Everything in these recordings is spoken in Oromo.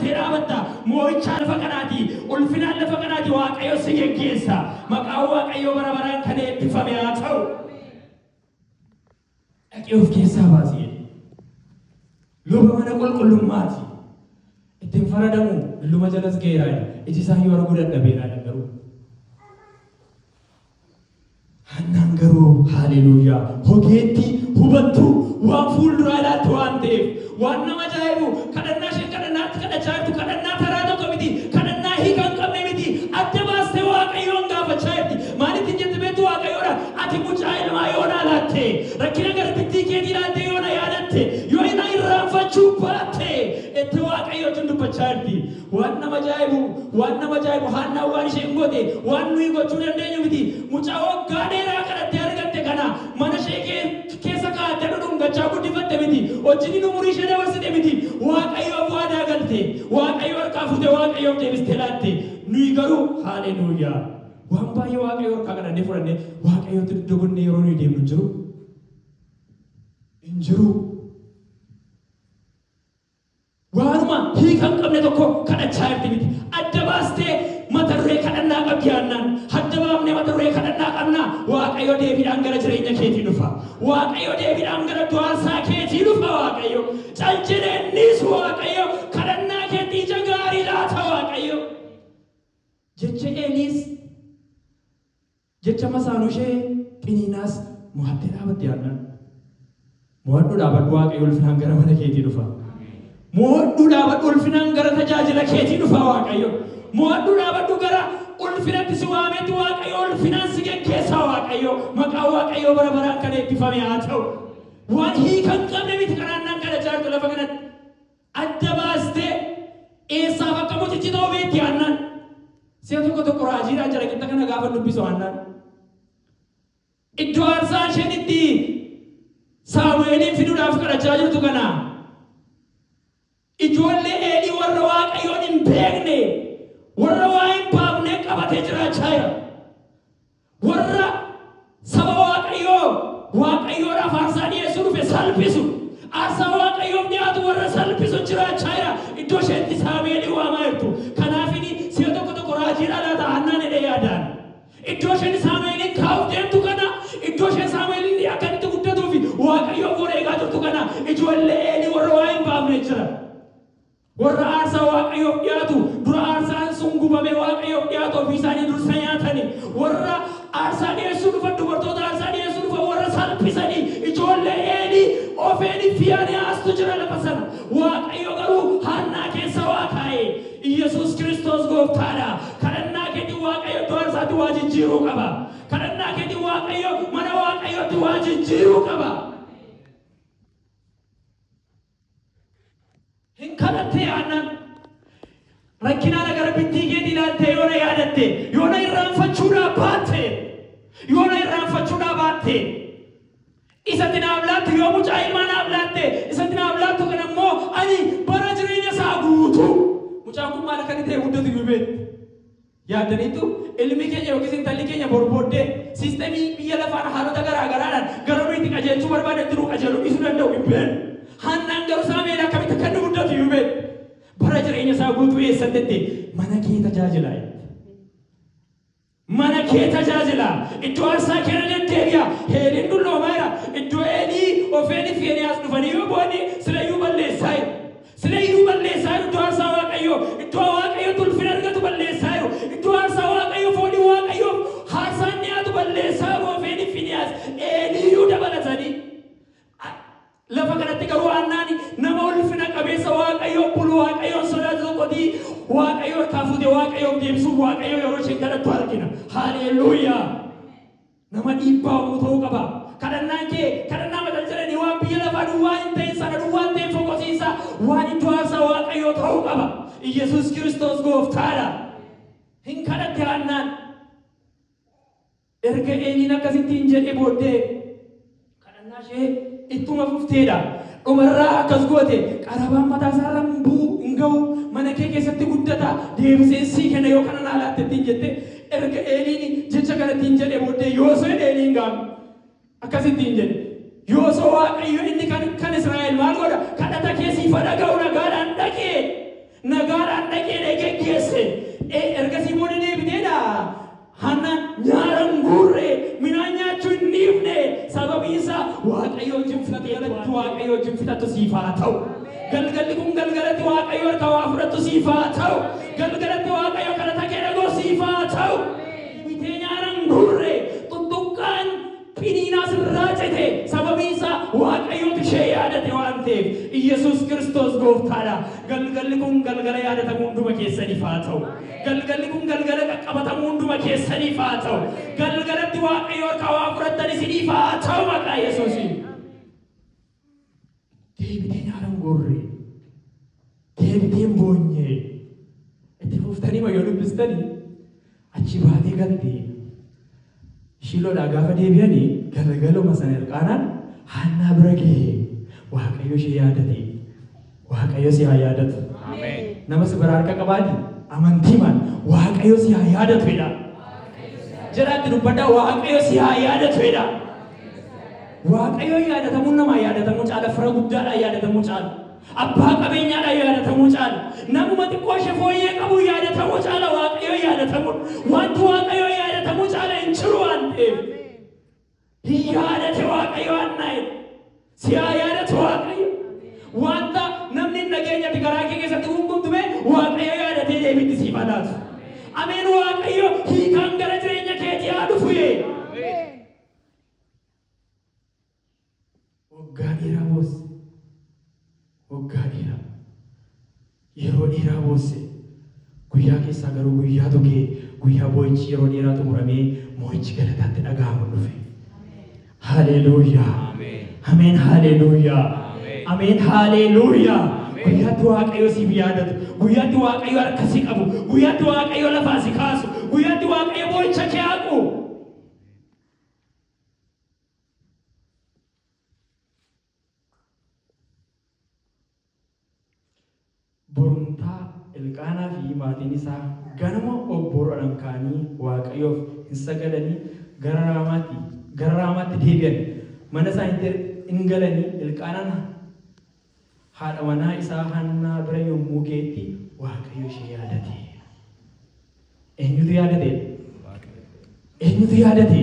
Seeraa batta, moo'ichaa lafa kanaatii, ulfinaan lafa kanaatii Waaqayyo si geggeessa. Maqaan Waaqayyoo bara baraan kan eebbifame haa ta'u. Dhaqee of keessaa baasi jedhe. Luba mana qulqullummaati. Itti hin faradamu, dulluma jalas ga'eera jedha. Iji isaa iyyuu arguu dadhabeera jedha garuu. Hannaan garuu, Haaleluuyyaa! Ogeetti, hubattuu, waan fuulduraa ilaaltu waan ta'eef. Waan nama ajaa'ibu, kadhannaa isheen kadhannaa irratti kadhachaa jirtu kadhannaa taraa tokko miti, kadhannaa hiika hin qabne miti. Adda baastee Waaqayyoon gaafachaa jirti. Maal ittiin jette beektuu? Waaqayyoodha, ati mucaa ilmaa yoo naa laatte, rakkina garbittii keetii ilaaltee yoo na yaadatte, yoo na irraanfachuu baatte, jette Waaqayyoo wajjin dubbachaa jirti. Waan nama ajaa'ibu waan nama ajaa'ibu haannaan waan isheen goote waan nuyi gochuu dandeenyu miti mucaa waggaa dheeraa kadhattee argatte kana mana ishee keessa kaa'attee dhudhungachaa guddifatte miti hojjinin umurii ishee dabarsite miti waaqayyoof waadaa galte waaqayyo harkaa fuute waaqayyoof deebistee laatte nuyi garuu haaleluuyaa waan baay'ee waaqayyo harkaa kadhannee fudhannee waaqayyootti dugda gonnee yeroo nuyi deemnu hin jiru hin jiru. Waanuma hiika hin qabne tokko kadhachaa jirti miti. Adda baastee mata duree kadhannaa qabdi Haannaan. Hadda baafnee mata duree kadhannaa qabnaa? Waaqayyo deebiidhaan gara jireenya keetii dhufa. Waaqayyo deebiidhaan gara du'aansaa keetii dhufa Waaqayyo. Cal jedhee hin dhiisu Waaqayyo. Kadhannaa keetti ija gaarii laata Waaqayyo. Jecha Eeliis. Jecha masaanuushee qiniinaas mo'attee dhaabatte Haannaan. Mo'adhu dhaabadhu Waaqayyo ulfinaan gara mana keetii dhufa. Mo'adhu dhaabadhu ulfinaan gara tajaajila keetii dhufa Waaqayyo. Mo'adhu dhaabadhu gara ulfinatti si waameetti Waaqayyo ulfinaan si geggeessa Waaqayyo. Maqaan Waaqayyoo bara baraan kan eebbifame haa ta'u. Waan hiika hin qabne miti kadhaannaan kadhachaa jirtu lafa kanatti. adda baastee eessaaf akka mucichi ta'u beekti Haannaan. Si'a tokko tokko raajiidhaan calaqixa kana gaafan dubbisu Haannaan iddoo aarsaa isheen itti Saamu'eeliin fiduudhaaf kadhachaa jirtu kana ijoollee Eelii warra Waaqayyoon hin beekne, warra waa hin baafne qabatee jiraachaa jira. Warra saba Waaqayyoo Waaqayyoodhaaf aarsaa dhi'eessuu dhufe salphisu, aarsaa Waaqayyoof dhi'aatu warra salphisu jiraachaa jira. Iddoo isheetti Saamu'eeliin waamaa jirtu. Kanaafini si'a tokko tokko raajiidhaa laata Haannaan jedhee yaadaan. Iddoo isheen Saamu'eeliin kaa'uuf deemtu kana, iddoo isheen Saamu'eeliin akka inni itti guddatuufi Waaqayyoof wareegaa jirtu kana ijoollee Eelii warra waa hin baafne jira. Warra aarsaa Waaqayyoof dhi'aatu dura aarsaan sun gubamee Waaqayyoof dhi'aatu ofii isaanii dursa nyaatani. Warra aarsaa dhi'eessuu dhufan dubartoota aarsaa dhi'eessuu dhufan warra salphisani ijoollee Eelii, Ofeeni, Fiyaanehaastu jira lafa sana. Waaqayyo garuu Haannaa keessa waa kaa'e. Iyyasuus Kiristoos Gooftaadha. Kadhannaa keetiin Waaqayyo iddoo aarsaatti waa jijjiiruu qaba. Kadhannaa keetiin Waaqayyo mana Waaqayyootti waa jijjiiruu qaba. Hin kadhattee aannan. Rakkinaana gara bittii keetii ilaaltee yoona yaadatte, yoona irraanfachuudhaa baatte, yoona irraanfachuudhaa baatte. Isatti naaf laattu yoo mucaa ilmaa naaf laatte, isatti naaf laattu kana immoo ani bara jireenya isaa guutuu. Mucaan kun maal akka inni ta'e guddatu iyyuu beekti. Yaaddaniittuu? Ilmi keenya yookiis intalli keenya boru booddee sistemii biyya lafaan haalota garaa garaadhaan gara nuyi itti qajeelchuu barbaadanitti nuu qajeeluu dhiisuu danda'u. Hin beeknu. Haannaan garuu Saamu'eel akkamitti akka inni guddatu iyyuu beekti. Bara jireenya isaa guutuu eessatti itti mana kee tajaajilaa jette. Mana kee tajaajilaa, iddoo aarsaa kee irra deddeebi'aa. Heeliin dulloomaa jira. Iddoo Eelii, Hofeenii fi Fiinehaas dhufanii yoo bu'anii sila iyyuu balleessaa jiru. Sila iyyuu balleessaa jiru, iddoo aarsaa Waaqayyoo, iddoo Waaqayyo itti ulfina argatu balleessaa jiru, iddoo aarsaa Waaqayyoo, foolii Waaqayyoof haarsaan dhi'aatu balleessaa jiru Hofeeniif Finihaas, Eelii iyyuu dabalatanii. a Lafa kanatti garuu Haannaan nama ulfina qabeessa Waaqayyoof bulu, Waaqayyoon sodaatu tokkoti Waaqayyo harkaa fuutee Waaqayyoof deebisuuf Waaqayyoon yeroo isheen kadhattu argina. Haleelluuyaa! Nama dhiibbaa uumuu ta'uu qaba. Kadhannaan kee kadhannaa mata hin jedhanii waan biyya lafaa duwwaa hin ta'in sana duwwaatti hin fokosiisa. Waan iddoo aarsaa Waaqayyoo ta'uu qaba. Iyyasuus Kiristoos Gooftaa dha. Hin kadhatte Haannaan. Erga Eeliin akkas ittiin jedhee booddee. kadhannaa ishee ittuma fuftee dha. Dhuma irraa akkas goote, Qarabaan mataa isaa irra hin bu'u, hin ga'u, mana kee keessatti guddata, deebiseen sii kenna yoo kana naa laatte ittiin jette. Erga Eeliin jecha kana ittiin jedhee booddee Yoosu'een Eeliin gaaf akkas ittiin jedhe, Yoosuu Waaqayyo inni kan kan Israa'el maal godha? Kadhata kee siif haa dhaga'u, nagaadhaan dhaqee nagaadhaan dhaqee dhee geggeesse. Ee, ergasii booda deebitee dha. Hanna nyaara hin guurre, midhaan nyaachuu hin dhiifne. Sababiin isaa Waaqayyo wajjin fixate irratti Waaqayyo wajjin fixatu siif haa ta'u. Galgalli kun galgalatti Waaqayyo harka waa fudhattu siif haa ta'u. Galgalatti Waaqayyo kadhata kee dhagoo siif haa ta'u. Bitee nyaara hin guurre, Piniinaas irraa cite, sababiin isaa Waaqayyootu ishee yaadate waan ta'eef. Iyyasuus Kiristoos Gooftaa dha. Galgalli kun galgala yaadatamuu hunduma keessaniif haa ta'u. Galgalli kun galgala qaqqabatamuu hunduma keessaniif haa ta'u. Galgalatti Waaqayyo harkaa waa fudhattan isiniif haa ta'u maqaa Yesuusiin. deebiteen haalan goorree deebiteen boonyee itti fuftanii ma yoo dubbistanii achi baatee galte shiiloodhaa gaafa deebi'anii galgaluma sana ilqaanaan haannaa bira ga'ee waaqayyo ishee yaadatee Waaqayyo si haa yaadatu. Nama si bira harka qabaati amantiimaan Waaqayyo si haa yaadatu jedhaa. Jalaatti dubbadhaa Waaqayyo si haa yaadatu jedhaa. Waaqayyo yaadatamuu namaa yaadatamuu caala fira guddaadhaa yaadatamuu caala. Abbaa qabeenyaadhaa yaadatamuu caala. Namuma xiqqoo ishee fooyyee qabu yaadatamuu caala Waaqayyo yaadatamuu. Wanti Waaqayyo yaadatamuu caala hin jiru waan ta'eef. Hin yaadate Waaqayyo Haannaa'e. Si haa yaadatu Waaqayyo. Wanta namni hin dhageenyetti garaa kee keessatti guungumtu mee Waaqayyo yaadatee deebiitti siif haa laatu. Ameen Waaqayyo hiikaan gara jireenya keetii haa dhufu. Ameen. Waggaa dheeraa boosse. Waggaa dheeraa. Yeroo dheeraa boosse. Guyyaa keessaa garuu guyyaa tokee, guyyaa boo'ichi yeroo dheeraa xumuramee moo'ichi galataa itti dhaga'amu dhufe. Haleeluuyaa! Ameen haleeluuyaa! Ameen haleeluuyaa! Guyyaatti Waaqayyo siif yaadatu, guyyaatti Waaqayyo harka si qabu, guyyaatti Waaqayyo lafaa si kaasu, guyyaatti Waaqayyo boo'icha kee haqu. Borumtaa Elqaanaa fi maatiin isaa ganama obboruadhan ka'anii Waaqayyoof in sagadanii gara Raamaatti gara Raamaatti deebi'an. Mana isaaniitti in galanii Elqaanaan Haadha manaa isaa Hannaa bira yommuu ga'etti Waaqayyo ishee yaadate. Eenyutu yaadate? Eenyutu yaadate?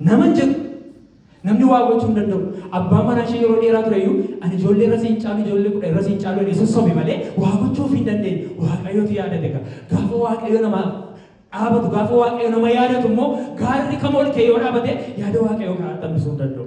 Nama hin jedhu. Namni waa gochuu hin danda'u. Abbaan manaa ishee yeroo dheeraa ture iyyuu ani ijoollee irra siin caalu ijoollee kudha irra siin caalu jedhee sossobe malee waa gochuu ofii hin dandeenye. Waaqayyotu yaadate gaa. Gaafa Waaqayyo namaa dhaabatu gaafa Waaqayyo nama yaadatu immoo gaarri kam ol ka'ee yoo dhaabate yaada Waaqayyoo karaatti hambisuu hin danda'u.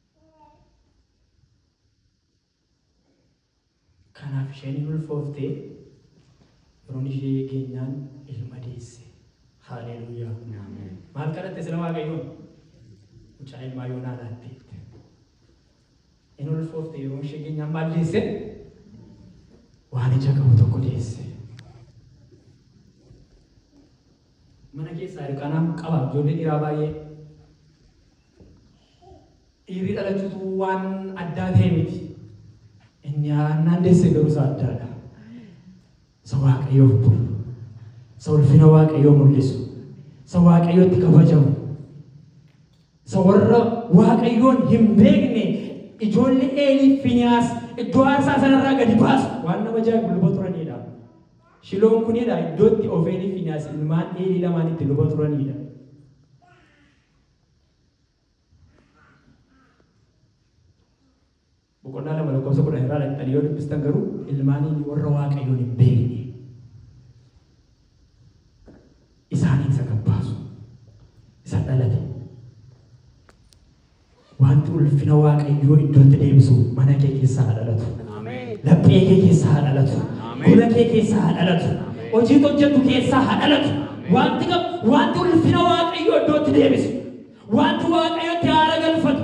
Kanaaf isheen hin ulfoofte, yeroon ishee geenyaan ilma deesse. Haaleeluuyaa! Maal kadhatte sila Waaqayyoon? Mucaa ilmaa yoonaa laatte jette. Hin ulfoofte yeroon ishee geenyaan maal deesse? Waan ija qabu tokko deesse. Mana keessaa hirkaanaa qaba ijoollee dhiiraa baay'ee. Dhiirri dhalachuutu waan addaa ta'e miti. Inni haannaan deesse garuu isa addaadha. Isa waaqayyoof bulu. Isa ulfina waaqayyoo mul'isu. Isa waaqayyootti kabajamu. Isa warra waaqayyoon hin beekne ijoollee Eelii Finiyaas iddoo aarsaa sanarraa gadi baasu waan nama ajaa'ibu luba turanidha. Shiloon kun dha iddoo itti Ofeelii fi Fiinehaas ilmaan Eelii lamaan itti luba turanii dha. Boqonnaa lama lakkoofsa kudhan irraa dhaqxanii yoo dubbistan garuu ilmaan Eelii warra Waaqayyoon hin beekne. isaanii isa gad baasu, isa dhalate. Wanti ulfina Waaqayyoo iddootti deebisu mana kee keessaa haa dhalatu. Laphee kee keessaa haa dhalatu. Gola kee keessaa haa dhalatu. Hojii hojjetu keessaa haa dhalatu. Wanti kam wanti ulfina Waaqayyoo iddootti deebisu. Wanti Waaqayyotti haara galfatu.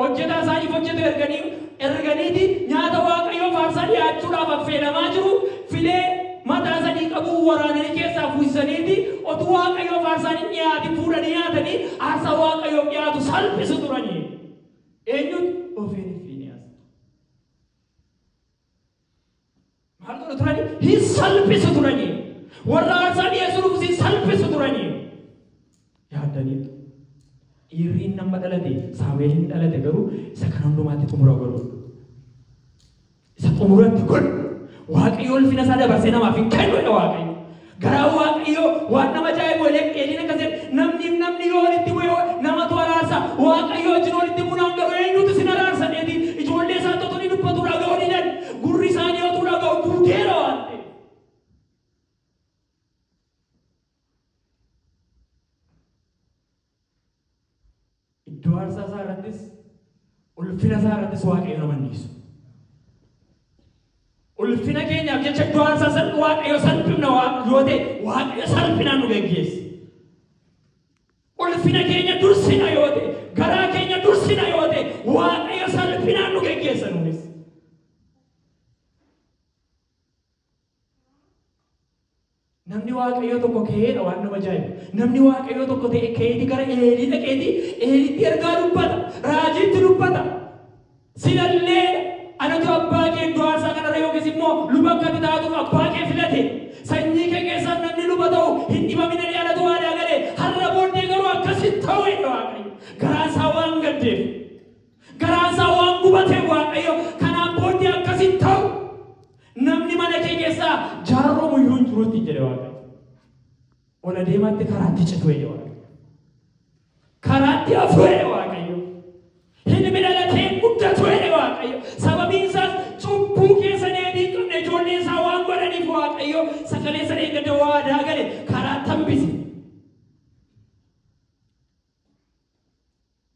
Hojjetaa isaaniif hojjetu erganii, erganiiti nyaata Waaqayyoo faarsaa dhiyaachuudhaaf affeelamaa jiru, filee mataa sadii qabuu waraananii keessaa fuusisaniiti otuu Waaqayyoo faarsaan hin dhiyaatin fuudhanii nyaatanii aarsaa Waaqayyoof dhiyaatu salphisu turanii. Eenyutu? Hofeeni Fiiniyaasitu. Maal godhu turani? Hin salphisu turani. Warra aarsaa dhiyeessuu dhufus hin salphisu turani. Yaaddaniitu. Dhiirri inni amma dhalate, Saamu'eel inni dhalate garuu isa kana hundumaatti xumura godhu. Isa xumuratti godhu. Waaqayyo ulfina isaa dabarsee namaaf hin kennu dha Waaqayyo. Garaan Waaqayyoo waan nama ajaa'ibu Eleq- Eliin akkas jedhe, namniif namni yoo walitti bu'e wa- namatu araarsa. Waaqayyo wajjin walitti buunaan garuu eenyutu isin araarsa? jedheeti. Ijoollee isaatti otoo inni dubbatuu dhaga'uu didan. Gurri isaanii otuu dhaga'u duudeera waan ta'eef. Iddoo aarsaa isaa irrattis ulfina isaa irrattis waaqayyo nama hin dhiisu. Ulfina keenyaaf jecha iddoo aarsaa san waaqayyo salphifna waan yoo ta'e waaqayyo salphinaan nu geggeessa. Ulfina keenya dursina yoo ta'e garaa keenya dursina yoo ta'e waaqayyo salphinaan nu geggeessa nuunis. Namni Waaqayyoo tokko ka'eedha waan nama ajaa'ibu. Namni Waaqayyoo tokko ta'e ka'eeti gara Eelii dhaqeeti Eeliitti ergaa dubbata. Raajiitti dubbata. Sinalleedha. Anatu abbaa kee iddoo aarsaa kanarra yookiis immoo luba akka ati taatuuf abbaa kee filate. Sanyii kee keessaas namni luba ta'u hin dhibamin jedhee anatu waadaa gale. Har'a booddee garuu akkas hin ta'u jedhe Waaqayyo. Garaan isaa waan gaddeef. Garaansaa waan gubateef Waaqayyo, Kanaan booddee akkas hin ta'u! Namni mana kee keessaa jaarromu iyyuu hin jiru ittiin jedhe Waaqayyo. Ol adeemaatti karaatti citu jedhe Waaqayyo. Karaatti hafu jedhe Waaqayyo. Ilmi dhalatee hin guddatu jedhe Waaqayyo. Sababiin isaas cubbuu keessa deebii hin qabne ijoollee isaa waan godhaniif Waaqayyo sagalee sana eeggatee waadaa gale karaatti hambise.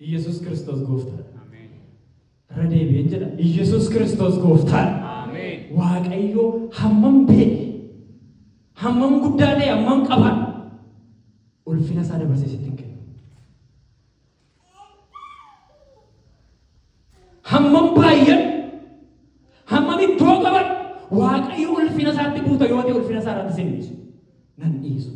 Iyyasuus Kiristoos gooftaadha. Irra deebi'een jedha. Iyyasuus Kiristoos gooftaadha. Waaqayyoo hammam beeke, hammam guddaa ta'e, hammam qaba ulfina isaa dabarsee sitti hin kennu. Hammam baayyadhu, hammam iddoo qabadhu, Waaqayyo ulfina isaatti buuta yoo ta'e ulfina isaa irratti sin dhiisu. Nan dhiisu.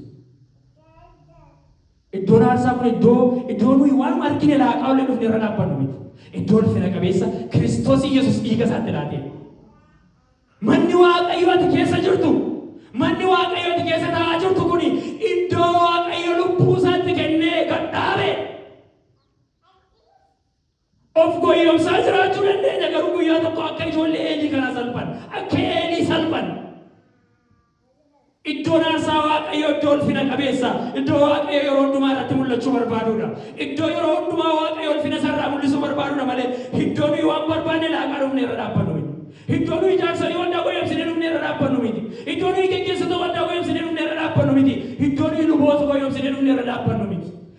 Iddoon aarsaa kun iddoo iddoo nuyi waan argine laaqaa ollee dhufne irra dhaabbannu miti. Iddoo ulfina qabeessa Kiristoos Yesuus dhiiga isaatti laatee. Manni Waaqayyo ati keessa jirtu, manni Waaqayyo ati keessa taa'aa jirtu kun iddoo Waaqayyo lubbuu isaatti kennee gad dhaabe. Of goyyomsaa jiraachuu dandeenya, garuu guyyaa tokko akka ijoollee Eelii kanaa salphanna. Akka Eelii salphanna. Iddoon aarsaa Waaqayyoo iddoo ulfina qabeessa, iddoo Waaqayyo yeroo hundumaa irratti mul'achuu barbaaduudha. Iddoo yeroo hundumaa Waaqayyo ulfina isaa irraa mul'isuu barbaaduudha malee iddoo nuyi waan barbaanne laaqaa dhufnee irra dhaabbannu miti. Iddoo nuyi jaarsolii waldaa goyyomsinee dhufnee irra dhaabbannu miti. Iddoo nuyi geggeessota waldaa goyyomsinee dhufnee irra dhaabbannu miti. Iddoo nuyi luboota goyyomsinee dhufnee irra dhaabbannu miti.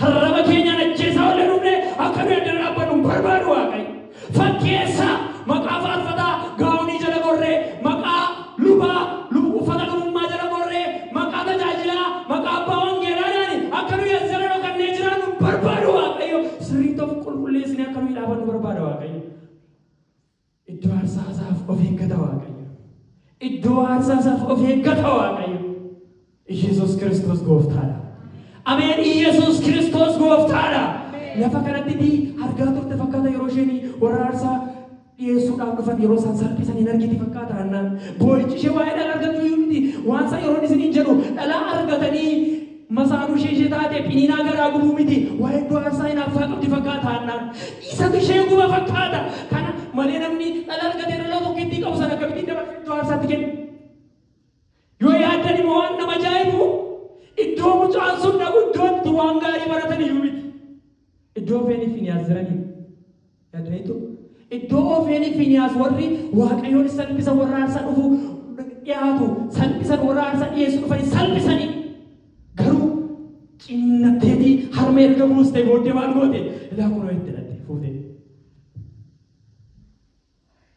Harraba keenyaan ajjeesaa ollee dhumne akka nuyi addana dhaabbannu hin barbaadu Waaqayyo. Fakkeessaa, maqaa faarfataa, gaawonii jala gorree, maqaa lubaa, lub, uffata lubummaa jala gorree, maqaa tajaajilaa, maqaa abbaa wangeelaadhaani akka nuyi addana dhokannee jiraannu hin barbaadu Waaqayyo. Sirriitti of qulqulleessinee akka nuyi dhaabannu barbaada Waaqayyo. Iddoo aarsaa isaaf of eeggata Waaqayyo. Iddoo aarsaa isaaf of eeggata Waaqayyo. Iyyasuus Kiristoos gooftaadha. Ameen Iyyasuus Kiristoos gooftaadha. Lafa kanatti itti argaa turte fakkaata yeroo isheen warra aarsaa dhiyeessuudhaaf dhufan yeroo isaan salphisan hin argiti fakkaata hannaan. Boo'ichi ishee waa'ee dhala argachuu iyyuu miti. Waan isaa yeroon isiniin jedhu dhalaa argatanii Masaanuu ishee ishee taate Phiniinaa garaa gubuu miti waa hedduu aarsaa hinaafsaa qabdi fakkaata Haannaan. Isatu ishee guba fakkaata. Kana malee namni dhala argatee dhala tokkittii qabu sana akkamittiin dabarsee iddoo aarsaatti kenna? Yoo yaaddan immoo waan nama ajaa'ibu iddoo mucaan sun dhaqu iddoo itti waan gaarii baratan iyyuu miti. Iddoo Hofeeniif Finiyaas jiraniidha. Dhagaitu, iddoo Ofeeni Finihaas warri Waaqayyoon salpisan warra aarsaa dhufu dhi'aatu salpisan warra aarsaa dhi'eessu dhufani salpisani. Garuu ciniinnatteetii harma erga buustee booddee maal goote? Ilaa kunoo itti dhatte fuutee.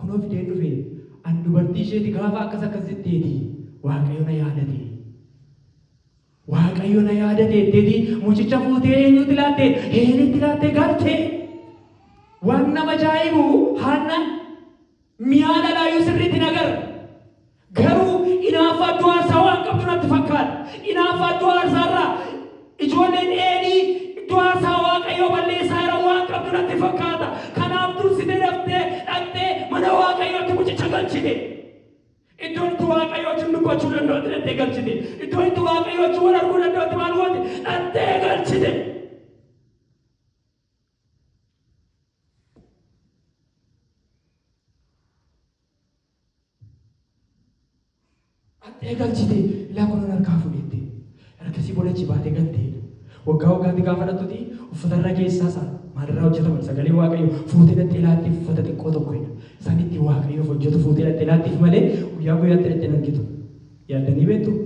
Kunoo fideen dhufe, ani dubartii isheeti gaafa akkas akkas jetteeti Waaqayyo na yaadate. Waaqayyo na yaadate jetteeti mucicha fuutee eenyutti laatte? Heelitti laatte galte. Waan nama ajaa'ibu haannaan mi'aa dhalaayyuu sirriitti hin agarre. Garuu inaaffaa iddoo aarsaa waan qabdu natti fakkaata. Inaaffaa iddoo aarsaa irraa ijoolleen Eelii iddoo aarsaa Waaqayyoo balleessaa jiran waan qabdu natti fakkaata. Kanaaf dursitee daftee dhaqxee mana Waaqayyootti mucicha galchite. Iddoo itti Waaqayyo wajjin dubbachuu danda'utti dhaqxee galchite. Iddoo itti Waaqayyo wajjin wal arguu danda'utti maal goote? Dhaqxee galchite. Haxxee galchitee laakuna narkaa fudhette. Ergasii booda achi baatee galte. Waggaa waggaatti gaafa dhaqxuti uffata irra keessaa isa maalirraa hojjetama inni sagalee waaqayyoo fuutee dhaqxee laattiif uffata xiqqoo tokko jedha. Isaan itti waaqayyoof hojjetu fuutee dhaqxee laattiif malee guyyaa guyyaatti dhaqxee hin argitu. Yaaddanii beektuu?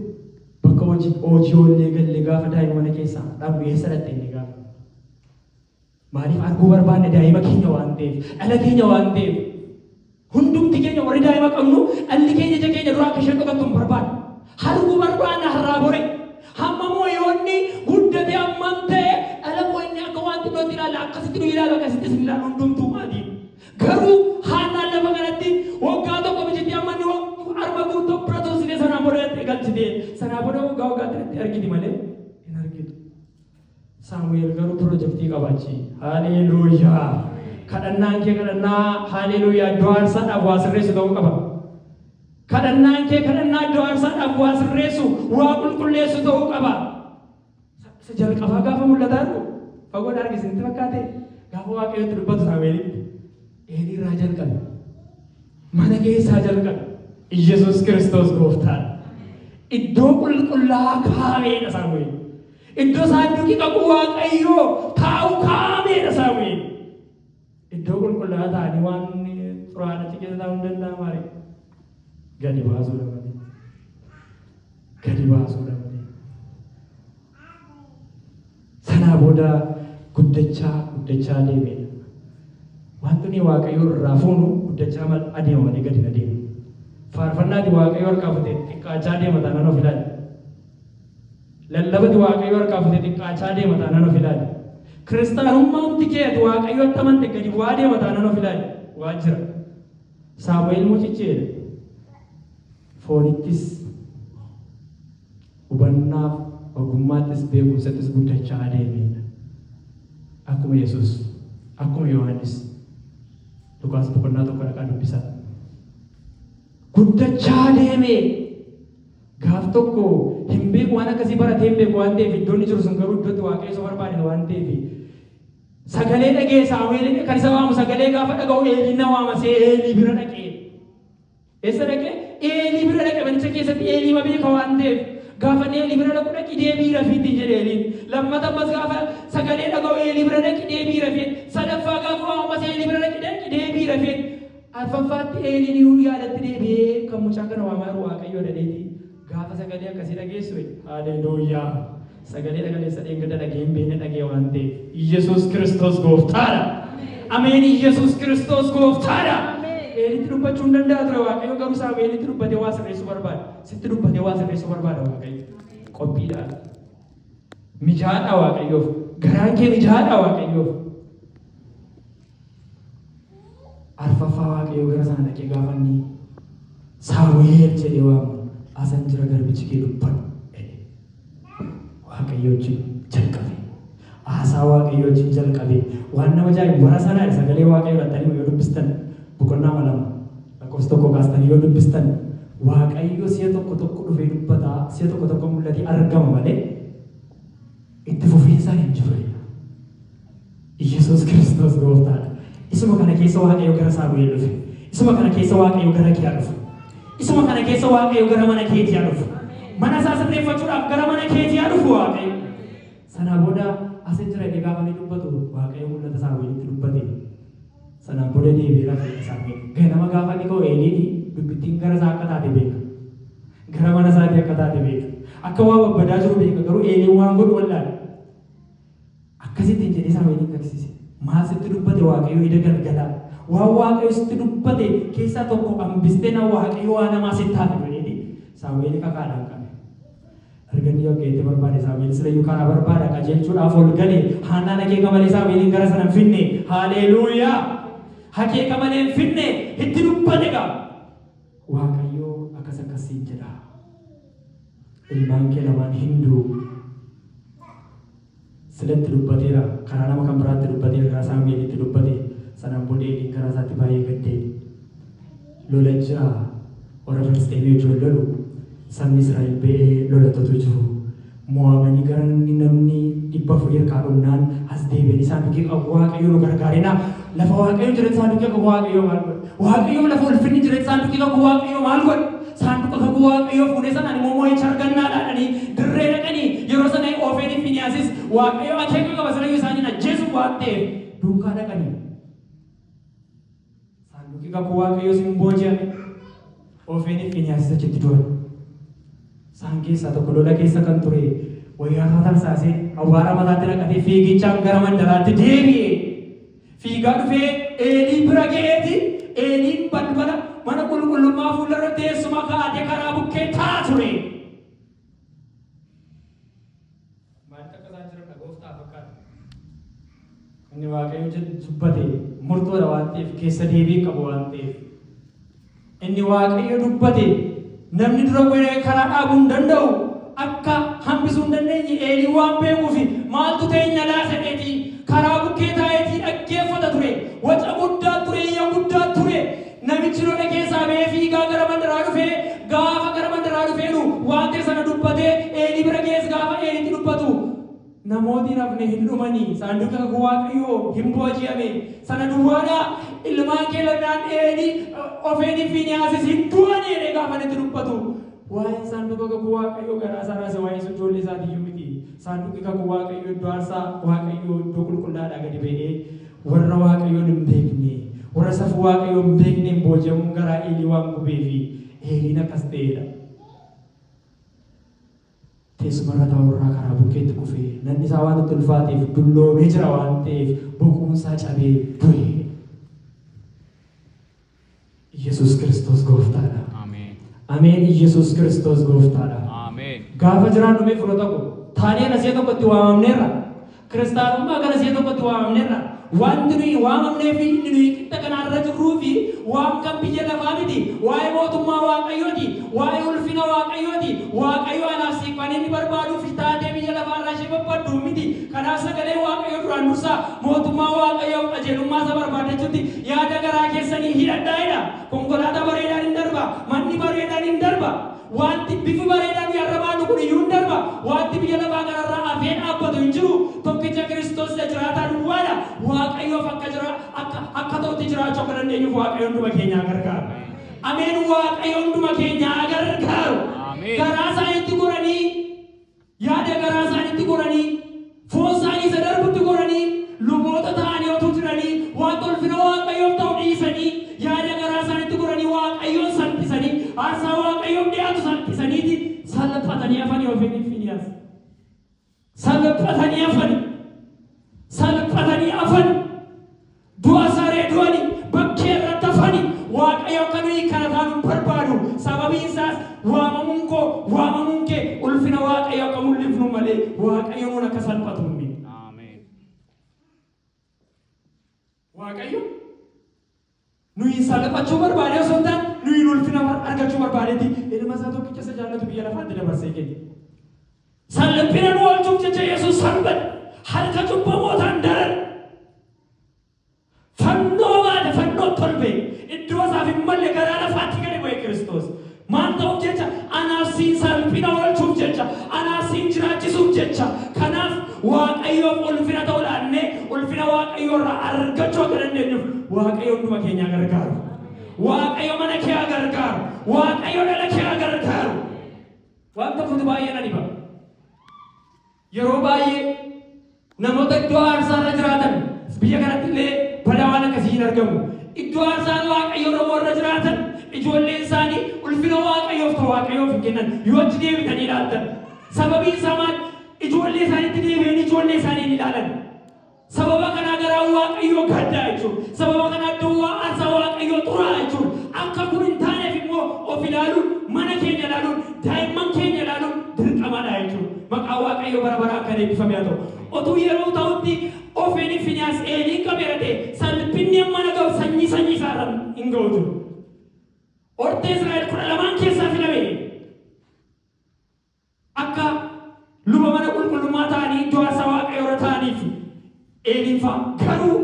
Bakka hojii hojii oollee gallee gaafa daa'ima mana keessaa dhabnu eessa dhaqxe jennee gaafanna. Maaliif arguu barbaanna daa'ima keenya waan ta'eef, dhala keenya waan ta'eef. Hundumti keenya warri daa'ima qabnu dhalli keenya ija keenya duraa akka isheen dhokattu hin barbaannu. Arguu barbaanna har'aa bori. Hamma moo yoo inni guddate hammam ta'e dhala koo inni akka waan xinnootti ilaalla akkasitti nu ilaalu akkasitti isin ilaalu hundumtuu maatiin. Garuu haadhaan lafa kanatti waggaa tokko michitti amma inni waggaa harma guutuu bira tursitee sanaan booda dhattee galchitee sanaa booda waggaa waggaatti dhattee argiti malee hin argitu. Saamu'eel garuu pirojektii qaba achi. Haaleeluuyaa! Kadhannaan kee kadhannaa haaleeluuyaa iddoo aarsaadhaaf waa sirreessu ta'uu qaba. Kadhannaan kee kadhannaa iddoo aarsaadhaaf waa sirreessu, waa qulqulleessu ta'uu qaba. Isa- Isa jalqabaa gaafa mul'ata argu fagoodha arge isinitti fakkaate gaafa waaqayyotti dubbatu Saamu'eelitti. Eenii irraa jalqabe? Mana keessaa jalqabe. Iyyasuus Kiristoos gooftaadha. Iddoo qulqullaa'aa kaa'ameedha Saamu'eel. Iddoo saanduqi kakuu Waaqayyoo taa'u kaa'ameedha Saamu'eel. Iddoo qulqullaa'aa ta'anii waan xuraa'aan achi keessa taa'uu hin danda'amu malee. Gadi baasuudha malee. Gadi baasuudha malee. Sanaa booda guddachaa guddachaa deeme. Wanti nuyi waaqayyoo irraa fuunu guddachaa mal adeema malee gadi hin adeemu. Faarfannaati waaqayyoo harkaa fute xiqqaachaa deema taanaan of ilaali. Lallabati waaqayyoo harkaa fute xiqqaachaa deema taanaan of ilaali. Kiristaanummaamti kee ati waaqayyootti amante gadi bu'aa deema taanaan of ilaali. Waa jira. Saamu'eel mucichi jedha. foonittis, hubannaaf, ogummaattis, beekumsattis guddachaa adeemeedha. Akkuma Yesuus, akkuma Yohaannis. Luqaas boqonnaa tokko dhaqaa dubbisaa. Guddachaa adeemee gaaf tokko hin beeku waan akkasii baratee hin beeku waan ta'eef iddoon jiru sun garuu iddootti waaqayyo isa barbaade waan ta'eef sagalee dhagee saamu'eelin kan isa waamu sagalee gaafa dhaga'u eeliin na waama see eelii bira dhaqee Eessa dhaqe? Eelii bira dhaqe, manicha keessatti Eelii ma beeka waan ta'eef. Gaafa inni Eelii bira dhaqu dhaqi deebi'ii rafi ittiin jedhe Eeliin. Lammata ammas gaafa sagalee dhaga'u Eelii bira dhaqi deebi'ii rafi jedhe. Sadaffaa gaafa waamu ammas Eelii bira dhaqi dhaqi deebi'ii rafi jedhe. Arfaffaatti Eeliin inuu yaadatti deebi'ee kan mucaa kana waamaa jiru Waaqayyoodha jedheeti. Gaafa sagalee akkasii dhageessu. Haleeluuyyaa! Sagalee dhagaleessa dheengadda dhagee hin beekne dhagee waan ta'eef. Iyyasuus Kiristoos gooftaadha. Ameen Iyyasuus Kiristoos gooftaadha. Eelitti dubbachuu hin danda'a ture Waaqayyo garuu Saamu'eelitti dubbatee waa sirreessuu barbaada. Sitti dubbatee waa sirreessuu barbaada Waaqayyo. Qophiidhaan. Mijaadha Waaqayyoof. Garaan kee mijaadha Waaqayyoof. arfaffaa waaqayyoo gara sana dhaqee gaafa inni saamu'eel jedhee waamu asan jira garbichi kee dubbadhu jedhe waaqayyoo wajjin jalqabe haasaa waaqayyoo wajjin jalqabe waan nama jaa'ibu bara sana sagalee waaqayyoo dhattanii yoo dubbistan boqonnaa lama lakkoofsa tokko kaastanii yoo dubbistan waaqayyoo si'a tokko tokko dhufee dubbataa si'a tokko tokko mul'atee argama malee itti fufiinsaa hin jirre. Yesuus Kiristoos gooftaadha. Isuma kana keessa Waaqayyo gara Saamu'eel dhufe. Isuma kana keessa Waaqayyo gara kee haa dhufu. Isuma kana keessa Waaqayyo gara mana keetii haa dhufu. Mana isaa sirreeffachuudhaaf gara mana keetii haa dhufu Waaqayyo. Sana booda asin jira inni gaafa inni dubbatu Waaqayyo mul'ata Saamu'eelitti dubbate. Sanaan booda deebi'ee rafee na saamee ganama gaafa inni ka'u Eeliini dubbittiin gara isaa akka taate beeka. Gara mana isaatii akka taate beeka. Akka waa babbadaa jiru beeka garuu Eeliin waan godhu wallaale. Akkas ittiin jedhee Saamu'eeliin kaksiise. Maal sitti dubbate Waaqayyo eda galgalaa? Waan Waaqayyo sitti dubbate keessaa tokko hambistee na Waaqayyo waan hamaa sitti haa fidu jedheeti Saamu'eeli kakaadhaan qabe. Ergamni Waaqayyo itti barbaade Saamu'eel silayyuu karaa barbaada qajeelchuudhaaf ol gale. Haannaan akeeka malee Saamu'eeliin gara sana hin finne. Haaleeluuyaa! Akeeka malee hin finne, itti dubbate egaa. Waaqayyo akkas akkas siin jedha. Ilmaan kee lamaan hin du'u. Silatti dubbateera, karaa nama kan biraatti dubbateera, karaa Saamu'eelitti dubbate. Sanaan booda Eeliin garaa isaatti baay'ee gaddee, Lola jira, warra Filisxeemii wajjin wal lolu, sabni Israa'el ba'ee lola totu jiru, moo'amanii gara namni 400 harkaa dhumnaan as deebi'anii isaan duukaa, Waaqayyo nu gargaarinaa! Lafa Waaqayyo jira saanduqii kakuu Waaqayyoo maal godhe? Waaqayyoo lafa ulfinni jira saanduqii kakuu Waaqayyoo maal godhe? Saanduqa kakuu Waaqayyoo fuudhee sanaan immoo moo'icha argannaa dhaadhanii dirree dhaqanii yeroo sana Oofeeniif Finiyaasis Waaqayyo akeeka qaba sanayyuu isaaniin ajjeesuuf waan ta'eef duukaa dhaqanii. Saanduqii kakuu Waaqayyoos hin booji'ame. Ofeeni fi nyaasisa achitti du'an. Isaan keessaa tokko lola keessa kan ture wayyaarraa tarsaasee awwaara mataatti naqatee fiigichaan gara mandaraatti deebi'e. Fiigaa dhufee Eelii bira ga'eeti Eeliin balbala mana qulqullummaa fuullarra teessuma kaa'atee karaa bukkee taa'a ture. Maalitti akka isaan jiran dha gooftaa fakkaata. Inni Waaqayyo jedhu dubbate murtoodha waan ta'eef keessa deebii hin qabu waan ta'eef. Inni Waaqayyo dubbate namni dura godhee karaa dhaabuu hin danda'u akka hambisuu hin dandeenye eelii waan beekuufi maaltu teenya laasadheetii karaa bukkee taa'eetii dhaggeeffata ture waca guddaa ture iyya guddaa ture Namichi lola keessaa ba'ee fiigaa gara mandaraa dhufe, gaafa gara mandaraa dhufeenu waan ta'e sana dubbate, Eelii bira ga'es gaafa Eeliitti dubbatu, Namooti hin hafne hin dhumani, saanduqi kakuu Waaqayyoo hin booji'ame, sana duwwaadhaa? Ilmaan kee lamaan Eelii, Hofeeniif Fiinihaasis hin du'ani jedhee gaafa inni itti dubbatu, waa'een saanduqa kakuu Waaqayyoo garaa isaa raase waa'ee sun ijoollee isaati iyyuu miti. Saanduqi kakuu Waaqayyoo iddoo aarsaa Waaqayyoo iddoo qulqullaa'aadhaa gadi ba'ee, Warra Waaqayyoon hin beekne, warra safuu Waaqayyoo hin beekneen booji'amuun garaa Eelii waan gubeefi Eeliin akkas ta'eedha. Teessuma irra taa'u irraa karaa bukkeetti kufee, nanni isaa waan itti ulfaateef dulloomee jira waan ta'eef boquun isaa cabee du'e. Yesus Kiristoos gooftaadha. Ameen. Ameen Yesus Kiristoos gooftaadha. Ameen. Gaafa jiraannu mee fira tokko taanee nasee tokkotti waamamneerra. Kiristaanummaa gara see tokkotti waamamneerra. Wanti nuyi waamamnee fi inni nuyi qixa kanaarra jirruu fi waan kan biyya lafaa miti. Waa'ee mootummaa Waaqayyooti. Waa'ee ulfina Waaqayyooti. Waaqayyo anaaf siif kan inni barbaaduu fi taatee biyya lafaarraa ishee barbaaddu miti. Kanaaf sagalee Waaqayyo duraan dursaa mootummaa Waaqayyoof qajeelummaa isa barbaaddachuutti Yaada garaa keessanii hidhadhaa jedha. Konkolaataa bareedaan in darba, manni bareedaan in darba, wanti bifi bareedaa nuyi har'a baannu kun iyyuu in darba, wanti biyya lafaa kana irraa hafee dhaabbatu hin jiru, tokkicha Kiristoos isa jiraataa duwwaa dha. Waaqayyoof akka jira, akka, akka ta'utti jiraachuu akka dandeenyuuf Waaqayyo hunduma keenya haa gargaaru. Ameen! Waaqayyo hunduma keenya haa gargaaru! Ameen. Garaa isaaniitti goranii Yaada garaa isaaniitti goranii, foon isaanii isa darbutti goranii, luboota ta'anii otuu jiranii, wanta ulfina Waaqayyoof ta'u dhiisanii, yaada garaa isaaniitti goranii Waaqayyoon salphisanii, aarsaa Waaqayyoof dhi'aatu salphisaniiti, salphatanii hafanii Hofiniif Fiinihaas. Salphatanii hafanii. Salphatanii hafanii. Du'a saree du'ani bakkee irratti hafani Waaqayyo akka nu hiikkana taanu hin barbaadu sababiin isaas waamamuun koo waamamuun kee ulfina Waaqayyo akka mul'ifnu malee Waaqayyo nuun akka salphatu hin miti. Waaqayyo nuyi salphachuu barbaadee osoo hin taane nuyi ulfina argachuu barbaadeti ilma isaa tokkicha isa jaallatu biyya lafaatti dabarsee kenne. Salphina nu oolchuuf jecha Yesus salphate, harka cubbamootaan darare, fannoo baate, fannootti ol ba'e, iddoo isaaf hin malle garaa lafaatti gadi bu'e Kiristoos. Maal ta'uuf jecha? Anaaf siin salphina oolchuuf jecha, anaaf siin jiraachisuuf jecha. Kanaaf Waaqayyoof ulfina ta'uu laannee ulfina Waaqayyoo irraa argachuu akka dandeenyuuf Waaqayyo hunduma keenya haa gargaaru. Waaqayyo mana kee haa gargaaru. Waaqayyo dhala kee haa gargaaru. Waan tokkotu baay'ee na dhiba. Yeroo baay'ee namoota iddoo aarsaa irra jiraatan biyya kanatti illee balaa waan akkasii hin argamu. Iddoo aarsaan waaqayyoo irra warra jiraatan ijoolleen isaanii ulfina waaqayyoof ta'u waaqayyoof hin kennan yoo achi deebitanii ilaaltan. Sababiin isaa maal? Ijoollee isaaniitti deebi'anii ijoollee isaanii hin ilaalan. Sababa kanaa garaan Waaqayyoo gaddaa jechuudha. Sababa kanaa iddoon waa aarsaa Waaqayyoo xuraa'a jechuudha. Akka kun hin taaneef immoo of ilaaluun, mana keenya ilaaluun, daa'imman keenya ilaaluun dirqamadha jechuudha. Maqaan Waaqayyoo bara baraa kan eebbifame haa ta'u. Otuu yeroo ta'utti Hofeeni Finihaas Eeliin qabeera ta'e salpinni hammana ga'u sanyii sanyii isaa irra hin ga'u ture. Hortee Israa'el kudha lamaan keessaa filame. Akka luba mana qulqullummaa ta'anii iddoo aarsaa Waaqayyoo irra ta'aniif Eeliin fa'a. Garuu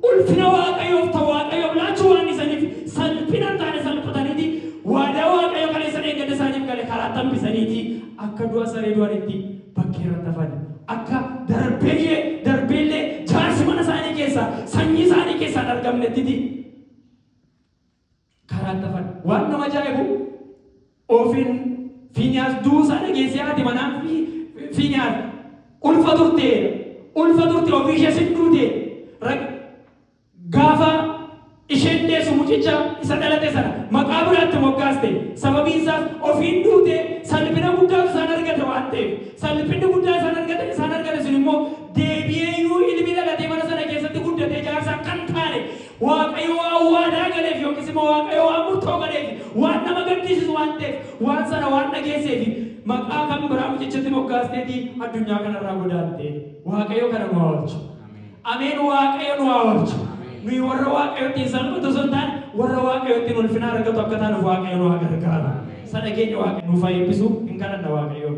ulfina Waaqayyoof ta'u Waaqayyoof laachuu waan dhiisaniif salphina hin taane salphataniiti waadaa Waaqayyo kaleessa dheengadda isaaniif gale karaatti hambisaniiti akka du'a saree du'anitti bakkee irratti hafani. Akka darbeeyyee darbee illee jaarsi mana isaanii keessaa sanyii isaanii keessaa hin argamnettiti. karaan tafadha. Waan nama ajaa'ibu Ofin Fiiniyaas du'uu isaa dhageessee haati manaan Fiiniyaas ulfa turte ulfa turte ofii ishees hin duute rag gaafa isheen deessu mucicha isa dhalate sana maqaa biraatti moggaaste sababiin isaas ofiin duute salphina guddaatu isaan argate waan ta'eef salphinni guddaa isaan argatan isaan argate sun immoo deebi'ee iyyuu ilmi dhalatee mana sana keessatti guddatee jaarsaa kan taane Waaqayyo waan waadaa galeef yookiis immoo Waaqayyo waan murtoo galeef waan nama gaddisiisu waan ta'eef waan sana waan dhageesseef maqaa kan biraa mucichatti moggaasteeti addunyaa kanarraa godaante. Waaqayyo kana nu haa oolchu. Ameen Waaqayyo nu haa oolchu. Nuyi warra Waaqayyotti hin salphatu osoo hin taane warra Waaqayyotti ulfina argatu akka taanuuf Waaqayyo nu haa gargaaru. Sana keenya Waaqayyo nuuf haa eebbisu hin kadhanna Waaqayyoon.